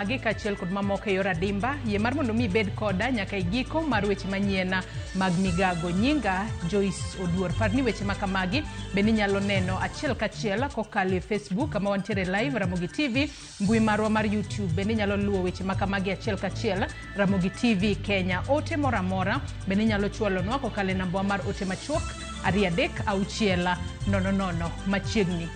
Magi kaachiel kod mamoko e yor adimba, yie mar mondo mi ibed koda nyaka e giko mar weche manyien mag migago. Nyinga Joyce Oduor. Par ni weche ma kamagi be ninyalo neno achiel kachiel kokalo e Facebook kama wantiere live Ramogi TV, mbui marwa mar YouTube be ninyalo luwo weche ma kamagi achiel kachiel Ramogi TV Kenya. Ote moro amora be ninyalo chwalonwa kokalo e nambawa mar ote machuok 33600 machiegni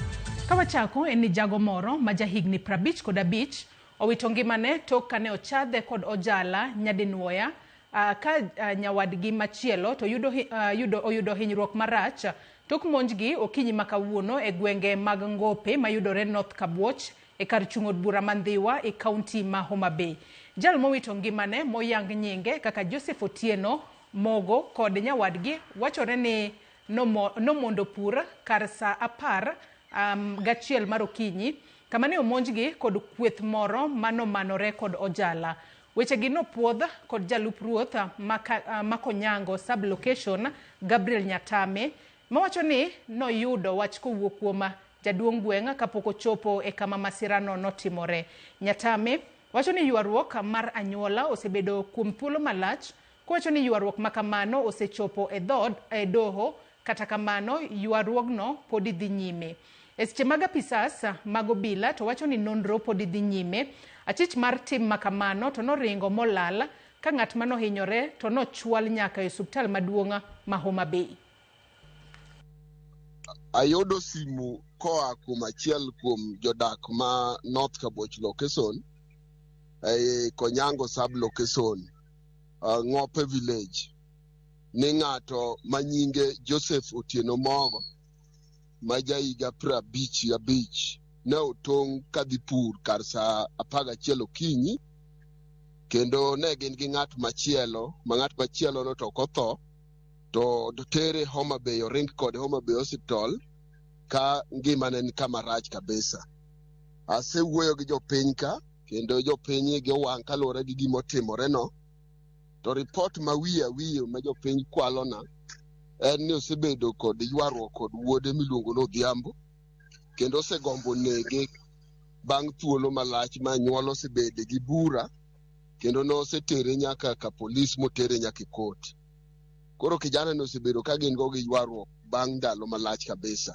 ka wachako en ni jago moro ma jahigni 50 kod abich owito ngimane tok kane ochadhe kod ojala nyadinwoya uh, ka uh, nyawadgi machielo to yudo, uh, yudo, oyudo hinyruok marach tok monjgi okinyi ma kawuono e gwenge mag ngope mayudore north kabuoch e kar chung' od bura ma ndhiwa e kaunti ma homa bay jal mowito ngimane moyang nyinge kaka joseph otieno Mogo kod nyawadgi wachore ni nomo, nomondo pur kar sa apar um, gachiel mar okinyi, kama ne omonjgi kod kweth moro ma nomanore kod ojala. Wechegi nopwodh kod jalup ruoth ma ka- ah, ma Konyango sub-location, Gabriel Nyatame, mawacho ni noyudo wach kowuok kuom jaduong' gweng' kapok ochopo e kama masirano notimore. Nyatame wacho ni ywaruok mar anyuola osebedo kuom thuolo malach Kowacho ni ywaruok ma kamano osechopo e dhood e doho, kata kamano ywaruogno podi dhi nyime. E seche mag apisas mag obila to wacho ni nonro podi dhi nyime. Achich mar tim ma kamano to noringo molal ka ng'at ma nohinyore to nochwal nyaka e osuptal maduong' ma Homa Bay. Ayudo simu koa kuom achiel kuom jodak ma North Kaboch Lokeson ei Konyango Sub Lokeson. uh, Ngope Village ni ng'ato ma nyinge Joseph Otieno Mogo ma jahiga prabich abich ne otong' kadhi pur kar saa apar gachiel okinyi kendo ne gin gi ng'at machielo ma ng'at machielo no to ok otho to dotere Homa Bay oring kode Homa Bay Hospital ka ngimane ni kama rach kabisa. Asewuoyo gi jopiny ka kendo jopiny igi owang' kaluwore gi gima otimoreno to ripot ma wiye awiye ma jopiny kwalona en ni osebedo kod ywaruok kod wuode miluongo ni Odhiambo kendo osegombo nege bang' thuolo malach ma anyuola osebede gi bura kendo nosetere nyaka ka polis motere nyaka e kot. Koro kijanani osebedo ka gin go gi ywaruok bang' ndalo malach kabisa.